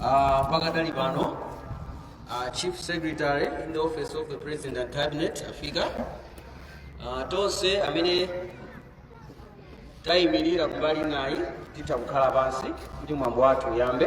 Ah, pakadali pano ah, chief secretary in the office of the president and cabinet afika Ah, tonse amene tayimirira kumbaliko nafe titha kukhala pansi kuti mwambo wathu uyambe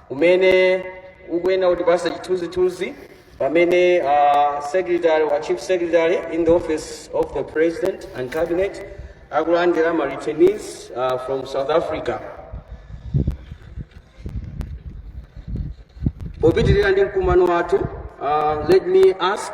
umene ukuyenera kutipasa chithunzithunzi pamene uh, secretary ah chief secretary in the office of the president and cabinet akulandira ma returnees uh, from south africa popitirira ndi mkumano wathu uh, let me ask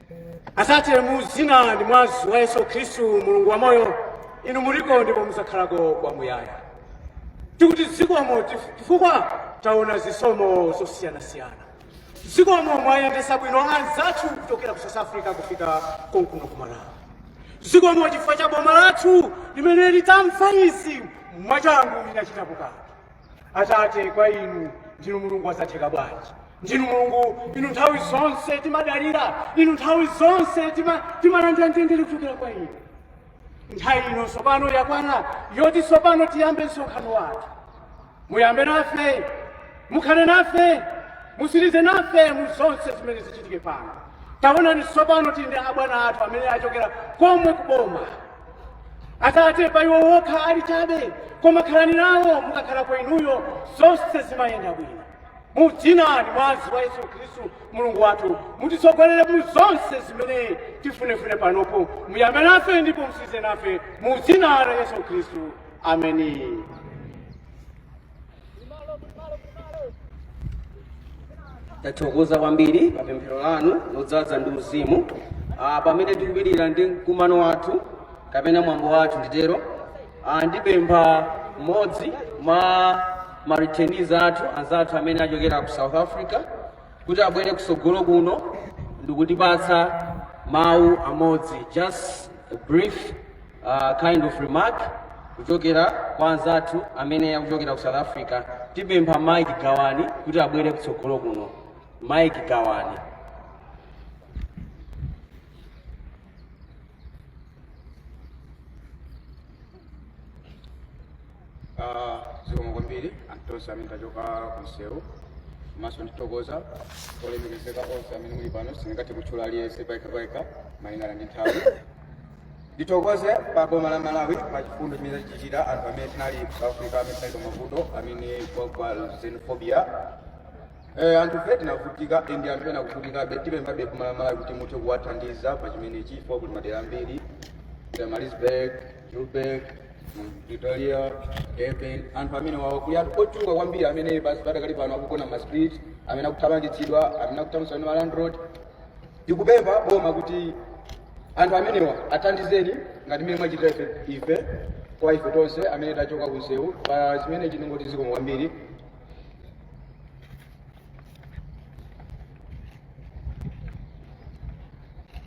atate mu zina ndi mwazi wa yesu khristu mulungu wa moyo inu muliko ndipo muzakhalako kwamuyaya tikuti zikomo chif- chifukwa taona zisomo zosiyanasiyana zikomo mwayendesa bwino anzathu kuchokera ku south africa kufika konkuno ku malawi zikomo chifukwa cha boma lathu limene litamva izi mwachangu linachitapo kanthu atate kwa inu ndinu mulungu wazotheka bwanji ndinu mulungu inu nthawi zonse timadalira inu nthawi zonse tima- timalandira mtendere kuchokera kwa inu nthawi ino tsopano yakwana yoti tsopano tiyambe msonkhano wathu muyambe nafe mukhale nafe musirize nafe mu zonse zimene zichitike pano taonani tsopano tili ndi abwana athu amene achokera komwe kuboma atate pa iwo wokha ali chabe koma khalani nawo mukakhala kwa inuyo zonse zimayenda bwino mu dzina ndi mwazi wa yesu khristu mulungu wathu mutitsogolere mu zonse zimene tifunefune panopo muyambe nafe ndipo musirize nafe mu dzina la yesu khristu ameni tathokoza kwambiri pa pemphero lanu lodzaza ndi uzimu ah, pamene tikupitirira ndi mkumano wathu kapena mwambo wathu nditero ah, ndipempha mmodzi mwa ma returnees athu anzathu amene achokera ku south africa kuti abwere kusogolo kuno ndikutipatsa mawu amodzi just a brief uh, kind of remark kuchokera kwa anzathu amene akuchokera ku south africa tipempha mike gawani kuti abwere kutsogolo kuno mike gawani Ah, zikomo kwambiri anthu tonse amene tachoka kumsewu komanso ndithokoza olemekezeka onse amene muli pano sindingathe kutchula aliyense payekha payekha malingana ndi nthawi ndithokoze pa boma la malawi pa chifundo chimene tachichita anthu amene tinali ku south africa amene tinali pa mavuto amene kwa kwa xenophobia Eh, anthu fe tinavutika ndi anthu ena akuvutikabe tipemphabe boma la malawi kuti muthe kuwathandiza pa chimenechi chifukwa kuti madera ambiri maritzburg Joburg, Pretoria, Durban, anthu amenewawo kuli anthu ochuluka kwambiri amene basi padakali pano akugona m'ma street, amene akuthamangitsidwa, amene akuthamangitsidwa ndi ma landlord. Tikupempha boma kuti anthu amenewa athandizeni ngati mmene mwachitira ife, ife kwa ife tonse amene tachoka kumsewu pa chimenechi tingoti zikomo kwambiri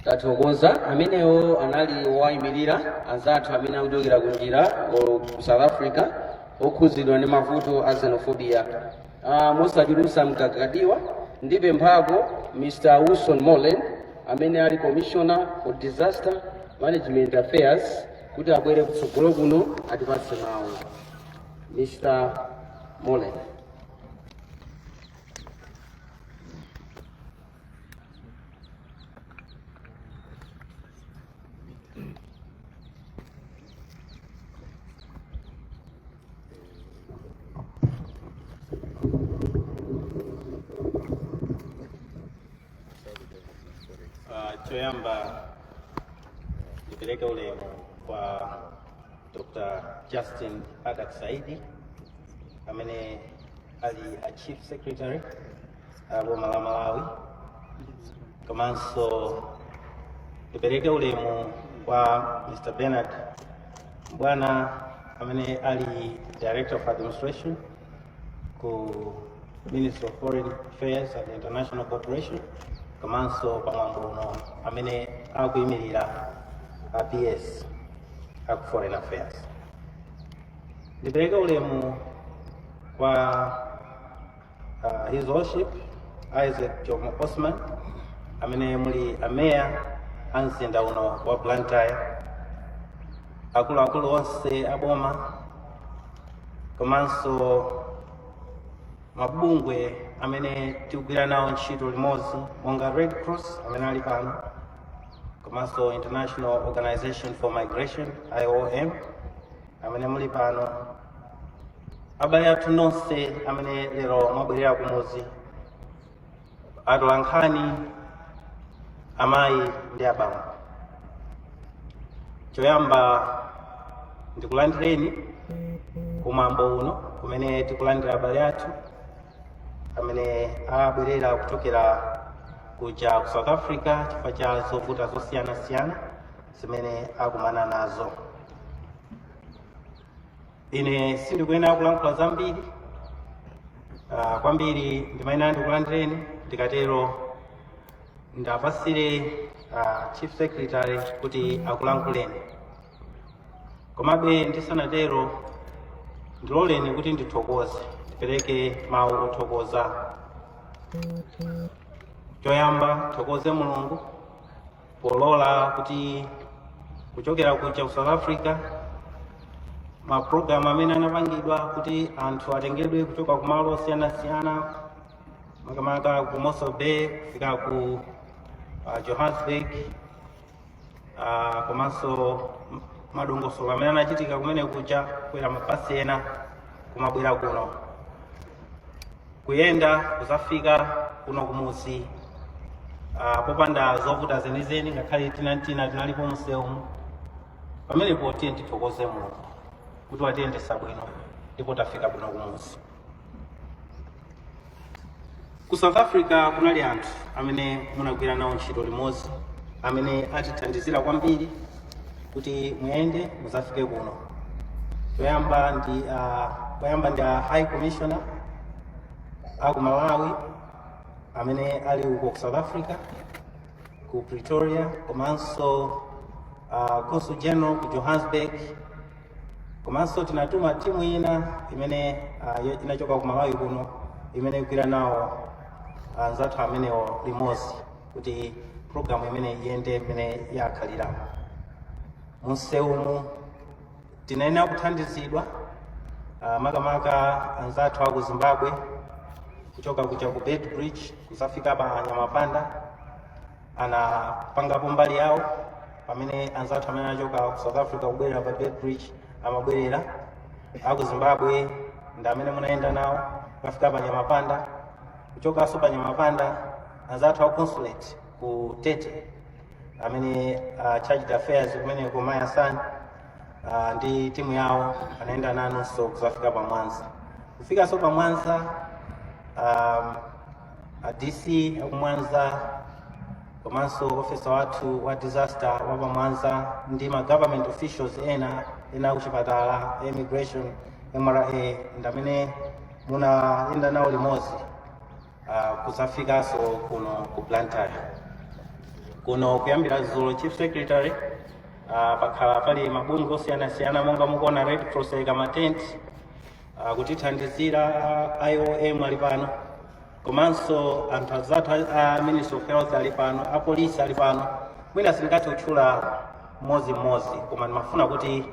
tathokoza amenewo anali owayimirira anzathu amene akuchokera ku njira ku south africa okhudzidwa ndi mavuto a xenophobia uh, mosachulusa mkaka ndi gwa ndipemphe pano mr wilson moleni amene ali commissioner for disaster management affairs kuti abwere kutsogolo kuno atipatse mawu mr moleni Ah, choyamba ndipereke ulemu kwa Dr. Justin Adack Saidi amene ali a Chief Secretary a boma la Malawi komanso ndipereke ulemu kwa Mr. Bernard Mbwana amene ali Director of Administration ku Ministry of Foreign Affairs and International Cooperation komanso pa mwambo uno amene akuyimirira a PS a ku Foreign Affairs. Ndipereke ulemu kwa uh, His Worship Isaac Jomo Osman amene muli ameya a mzinda uno wa Blantyre, akuluakulu onse a boma komanso mabungwe amene tikugwira nawo ntchito limodzi monga red cross amene ali pano komanso international organization for migration iom amene muli pano abale athu nonse amene lero mwabwerera kumudzi atolankhani amayi ndi abambo choyamba ndikulandireni kumwambo uno kumene tikulandira abale athu amene abwerera kuchokera kuja ku south africa chifukwa cha zovuta zosiyanasiyana zimene akumana nazo ine sindikuyenera kulankhula zambiri uh, kwambiri ndimayenera ndikulandireni ndikatero ndapasire uh, chief secretary kuti akulankhuleni komabe ndisanatero ndiloleni kuti ndithokoze ndipereke mawu othokoza choyamba tithokoze mulungu polola kuti kuchokera kuja ku south africa mapulogalamu amene anapangidwa kuti anthu atengedwe kuchoka ku malo osiyanasiyana makamaka ku mossel bay kufika ku uh, johannesburg uh, komanso madongosolo amene anachitika kumene kuja kukwera mabasi ena kumabwera kuno kuyenda kuzafika kuno kumuzi uh, popanda zovuta zenizeni ngakhale tinantina tinalipo mumsewumu pamenepo tiye tithokoze mulungu kuti watiyendesa bwino ndipo tafika kuno kumuzi ku south africa kunali anthu amene munagwira nawo ntchito limodzi amene atithandizira kwambiri kuti muyende muzafike kuno kuyamba ndi uh, kuyamba ndi a high commissioner aku malawi amene ali uko ku south africa ku pretoria komanso uh, consul general ku johannesburg komanso tinatuma timu ina imene uh, yo- inachoka ku malawi kuno imene ikugwira nawo anzathu amenewo limodzi kuti programu imene iyende imene yakhalira munsewumu tinayenera kuthandizidwa ah, makamaka anzathu aku zimbabwe kuchoka kuja ku beitbridge kuzafika pa nyamapanda anapangapo mbali yawo pamene anzathu amene anachoka ku south africa kubwerera pa beitbridge amabwerera aku zimbabwe ndi amene munayenda nawo kukafika pa nyamapanda kuchokanso pa nyamapanda anzathu a consulate ku tete amene uh, chargé d'affaires kumeneko mayi asani uh, ndi timu yawo anayenda nanunso kuzafika pa mwanza kufikanso pa mwanza um, a dc akumwanza komanso ofesa wathu wa disaster wa pamwanza ndi ma government officials ena akuchipatala immigration mra ndamene munayenda nawo limodzi uh, kuzafikanso kuno ku blantyre kuno kuyambira dzulo chief secretary uh, pakhala pali mabungwe osiyanasiyana monga mukuona red cross yayika matenti uh, kutithandizira uh, iom ali pano komanso anthu azathu a uh, ministry of health ali pano apolisi ali pano mwina sindingathe kutchula mmodzi mmodzi koma ndimafuna kuti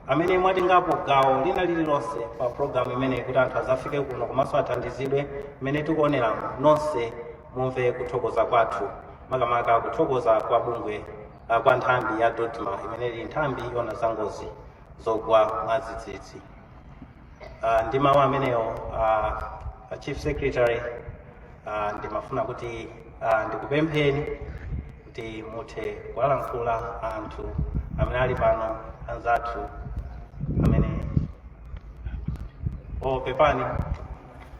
amene mwatengapo gawo lina lililonse pa program imeneyi kuti anthu azafike kuno komanso athandizidwe mmene tikuoneramo nonse mumve kuthokoza kwathu makamaka kuthokoza kwa bungwe ah, kwa nthambi ya dodma imene ili nthambi yoona za ngozi zogwa mwadzidzidzi Ah, ndi mawu amenewo ah, a chief secretary ah, ndimafuna kuti ah, ndikupempheni kuti muthe kuwalankhula anthu amene ali pano anzathu amene oh pepani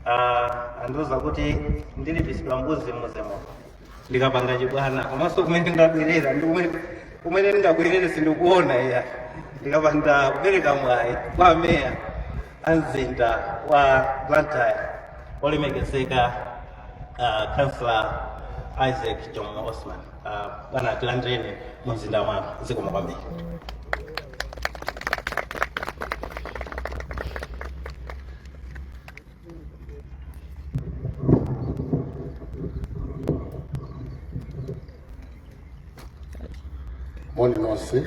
uh, andiuza kuti ndilipisidwa mbuzi muzimo ndikapanga chibwana komanso kumene ndabwerera ndi kumene kumene ndingabwerere sindikuona ya ndikapanda kupereka mwayi kwa a meya a mzinda wa blantyre olemekezeka uh, councillor isaac jomo osman uh, bwana tilandireni mu mzinda wanu zikomo kwambiri moni nonse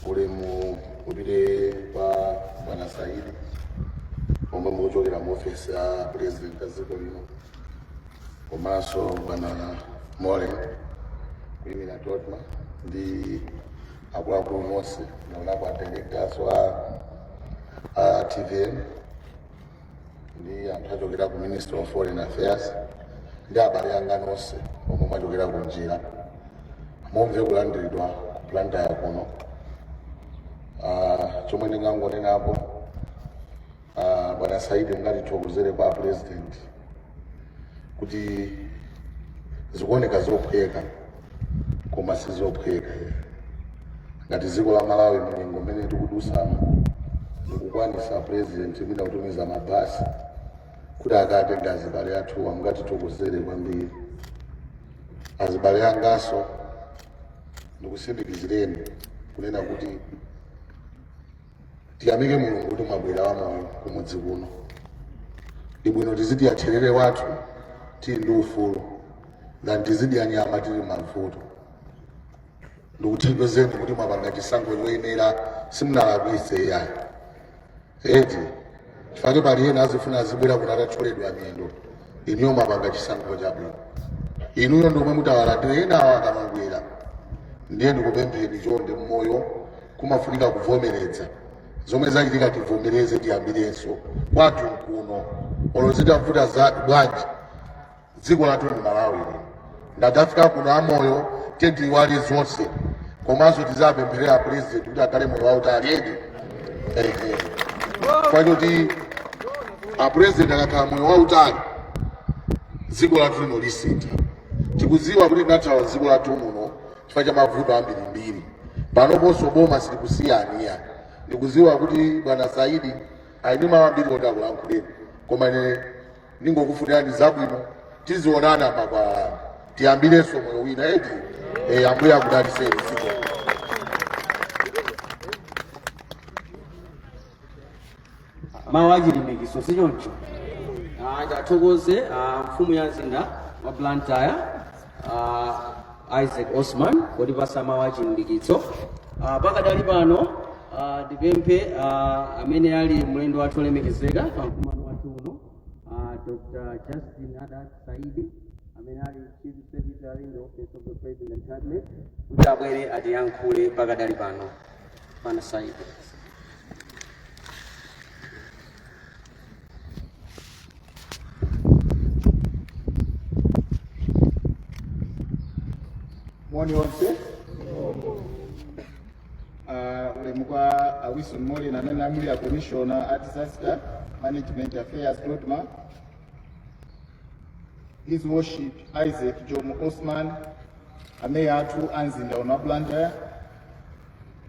ulemu upite kwa bwana saidi omwe mukuchokera mu ofesi ya president a dziko lino komanso bwana moleni kuyimira dodma ndi akuluakulu onse naonapo a tengatenga aswa a tvm ndi anthu achokera ku ministry of foreign affairs ndi abale anga nonse omwe mwachokera ku njira mumve kulandiridwa ku blantyre kuno Ah, chomwe ndingangonenapo ah, bwana saidi mungatithokozere kwa a president kuti zikuoneka zophweka koma sizophweka ngati dziko la malawi mnyengo mmene tikudusamo ndikukwanisa president mwina kutumiza mabasi kuti akatenge azibale athuwa mungatithokozere kwambiri azibale angaso ndikusindikizireni kunena kuti tiyamike mulungu kuti mwabwera wamoyo kumudzi kuno ndi bwino tizidya therere wathu tili ndi ufulu ngati tizidya nyama tili mavuto ndikuthokozeni kuti mwapanga chisankho choyenera simunalakwitse iyayi eti chifukwa pali ena azifuna azibwera kuti atatcholedwa miyendo inuyo mwapanga chisankho chabwino inuyo ndiomwe mutawalandire enawo akamabwera ndiye ndikupempheni chonde mmoyo kumafunika kuvomereza zomwe zachitika tivomereze tiyambirenso kwathu nkuno olo zitavuta za bwanji dziko lathu ndi malawi lino nde tafika kuno amoyo tiyeni tiiwale zonse komanso tizapempherera apulezidenti kuti akhale moyo wautali eti kwachoti apulezidenti akakhala moyo wautali dziko lathu lino lisintha tikudziwa kuti tinathawa dziko lathu muno chifukwa cha mavuto ambirimbiri panoponso boma silikusiyani ayi ndikuziwa kuti bwana saidi ali ndi mawu ambiri oti akulankhuleni koma ine ndingokufunirani zabwino tizionana makwalala tiyambirenso moyo wina eti eh, ambuye akudaliseni mawu achilimbikitso si choncho Ah, ndithokoze ah, mfumu ya mzinda wa blantyre ah, isaac osman potipasa mawu achilimbikitso Ah, pakadali pano ah, ndipemphe ah, amene ali mlendo wathu olemekezeka pa mkumano wathu uno ah, dr justin adack saidi amene ali chief secretary in the office of the president cabinet kuti abwere atiyankhule pakadali pano moni onse Ah, ulemu kwa ah, wilson moleni amene muli a commissioner a disaster management affairs dodma his worship isaac jomo osman ameya athu a mzinda uno wa blantyre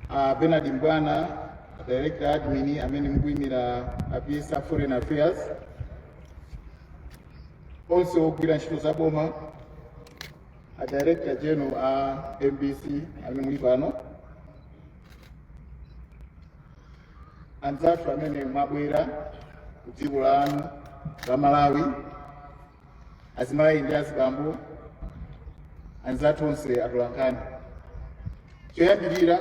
a Bernard Mbwana director admin amene mukuyimira a PS a Foreign Affairs onse ogwira ntchito za boma a director general a MBC amene muli pano anzathu amene mwabwera ku dziko lanu la Malawi azimayi ndi azibambo anzathu onse atolankhani choyambirira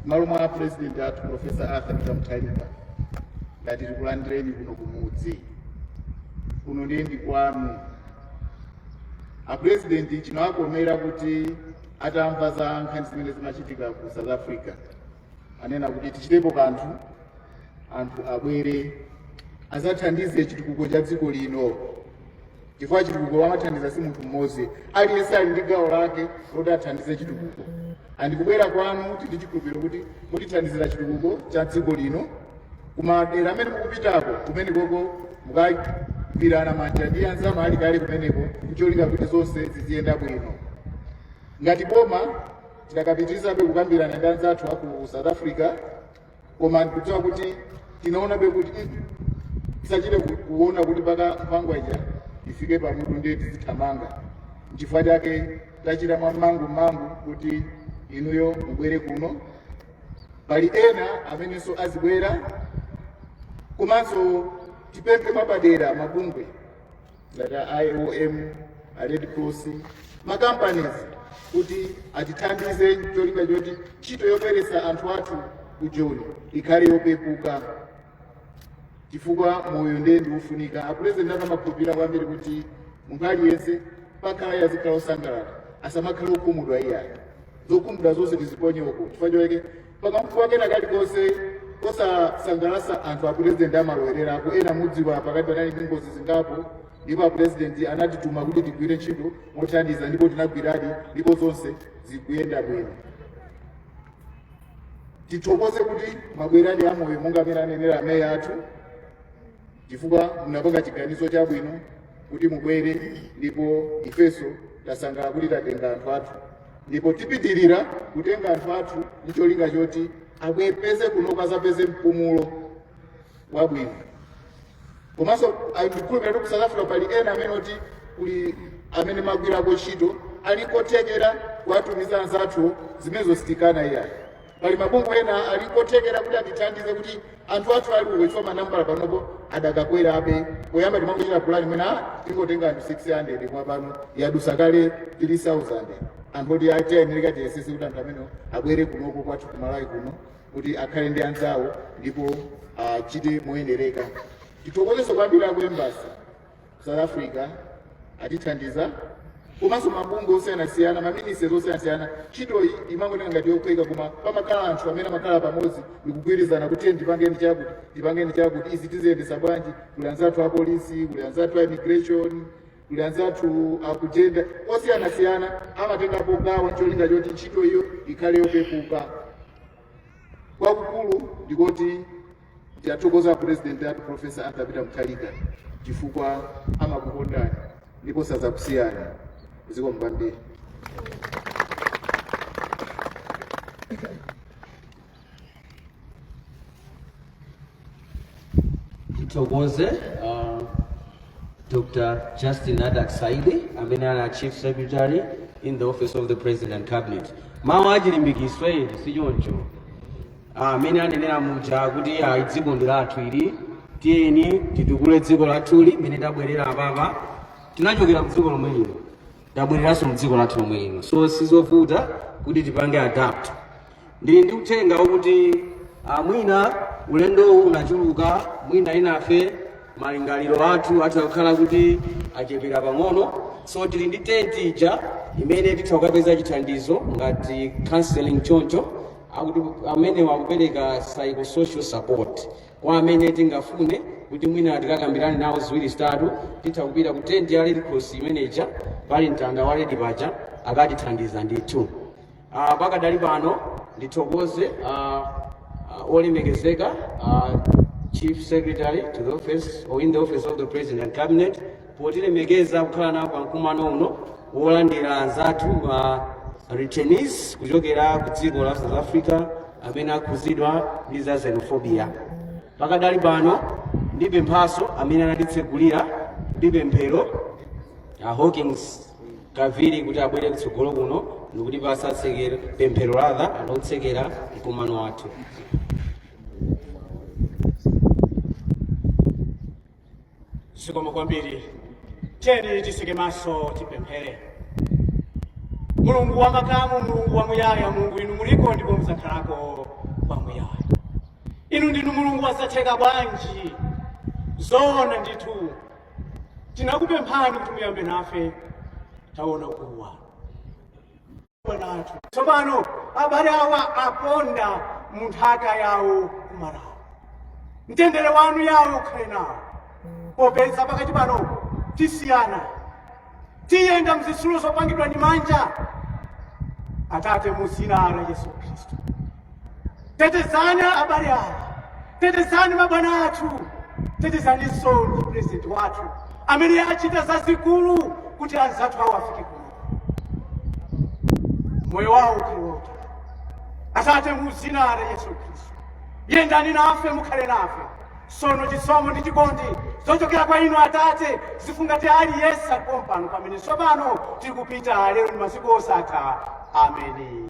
mmalo mwa a president athu profesa arthur peter mutharika ndati tikulandireni kuno kumudzi kuno ndiye ndi kwanu apresidenti chinawakomera kuti atamva za nkhani zimene zimachitika ku south africa anena kuti tichitepo kanthu anthu abwere azathandize chitukuko cha dziko lino chifukwa chitukuko amathandiza si munthu mmodzi aliyense ali ndi gawo lake loti athandize chitukuko andi kubwera kwanu tili chikhulupiriro kuti mutithandizira chitukuko cha dziko lino kumadera amene mukupitako kumene koko mukagwirana manja ndi anzanu ali kale kumeneko ncholinga kuti zonse ziziyenda bwino ngati boma Tidakapitirizabe kukambirana ndi anzathu a ku South Africa koma ndikudziwa kuti tinaonabe kuti "Mm, tisachite kuona kuti mpaka nkhwangwa ija ifike pamutu ndiye tizithamanga nchifukwa chake tachita mwamangumangu kuti inuyo mubwere kuno pali ena amenenso azibwera komanso tipemphe mwapadera mabungwe ngati a iom a red cross makampanizi kuti atithandize cholinga choti ntchito yoperesa anthu athu ku joni ikhale yopepuka chifukwa moyo ndiye ndiufunika apurezidenti amakhulupirira kwambiri kuti munthu aliyense pakhala iye azikhala osangalala asamakhale okhumudwa iyayo zokhumudwa zonse tiziponye uko chifukwa choyake pakamfuwa kena kalikonse kosasangalatsa anthu apurezidenti amalowererapo ena mudziwa pakati panali ndi ngozi zingapo ndipo apurezidenti anatituma kuti tigwire ntchito mothandiza ndipo tinagwiradi ndipo zonse zikuyenda bwino tithokoze kuti mabwerani amoyo monga amene anenera ameya athu chifukwa munapanga chiganizo chabwino kuti mubwere ndipo ifenso tasangalala kuti tatenga anthu athu ndipo tipitirira kutenga anthu athu ndi cholinga choti abwere kunoko azapeze mpumulo wabwino komanso ndikukhulupirira kuti ku south africa pali ena amene oti kuli amene magwirako ntchito ali kothekera kuwatumiza anzathu zimenezo sitikana iyayi pali mabungwe ena ali kothekera kuti atithandize kuti anthu athu ali uko chifukwa manambala panopo adakakwerabe poyamba timangochita pulani mwina tingotenga anthu 600 kwa pano yadusa kale 3000 anthu oti tikuyenereka tiyesese kuti anthu amenewa abwere kunoko kwathu kumalawi kuno kuti akhale ndi anzawo ndipo achite moyenereka tithokozenso kwambiri akuembasi South Africa atithandiza komanso mabungwe osiyanasiyana maministries osiyanasiyana ntchitoyi imangooneka ngati yophweka koma pamakhala anthu amene amakhala pamodzi ndikugwirizana kuti tiye ndipangeni chakuti ndipangeni chakuti izi tiziyendesa bwanji kuli anzathu apolisi kuli anzathu a immigration kuli anzathu akujenda osiyanasiyana amatengapo gawo ncholinga choti ntchito iyo ikhale yopepuka kwakukulu ndikoti Tiyathokoza president athu Professor Arthur Peter Mutharika chifukwa amakukondani ndipo sazakusiyani zikomo kwambiri. Tithokoze uh, Dr. Justin Adak Saidi amene ali a Chief Secretary in the Office of the President and Cabinet. Mawu achilimbikitso sichoncho. mmene anenera muja kuti ayi dziko ndi lathu ili tiyeni titukule dziko lathuli mmene tabwerera apapa tinachokera mdziko lomwe lino tabwereranso mdziko lathu lomwe lino so sizovuta kuti tipange adapt ndili ndi uthenga wokuti ah, mwina ulendowu unachuluka mwina enafe malingaliro athu atha kukhala kuti achepera pang'ono so tili ndi tenti ija imene titha kukapeza chithandizo ngati counseling choncho akuti amene akupereka psychosocial support kwa amene tingafune kuti mwina tikakambirane nawo ziwiri zitatu titha kupita ku tent ya red cross imeneja pali mtanda wa red paja akatithandiza ndithu Ah, pakadali pano ndithokoze ah, ah, olemekezeka ah, chief secretary to the office or in the office of the president and cabinet potilemekeza kukhala nawo pa mkumano uno wolandira anzathu a returnees kuchokera ku dziko la south africa amene akhuzidwa ndi za xenophobia pakadali pano ndipemphenso amene anatitsegulira ndi pemphero a hawkings kaviri kuti abwere kutsogolo kuno ndikuti atipatse pemphero lathu lotsekera mkumano wathu zikomo kwambiri tiyeni tiseke maso tipemphere mulungu wa makamu mulungu wamuyaya mulungu inu muliko ndipo muzakhalako kwamuyaya inu ndinu mulungu wa zatheka bwanji zoona ndithu tinakupemphani kuti muyambe nafe taona ukulu wanu kuona anthu tsopano abale awa aponda mu nthaka yawo kumalawo mtendere wanu Yahwe ukhale nawo popeza pakadali pano tisiyana tiyenda mzitsulo zopangidwa ndi manja atate mu dzina la yesu khristu tetezani abale awa tetezani mabwana athu tetezaninso ndi purezidenti wathu amene achita zazikulu kuti anzathu awo afike kuno moyo wawo uliwonke atate mu dzina la yesu khristu yendani nafe mukhale nafe sono chisomo ndi chikondi zochokera kwa inu atate zifungate aliyense ali pano pamene tsopano tiri kupita lero ndi masiku osatha ameni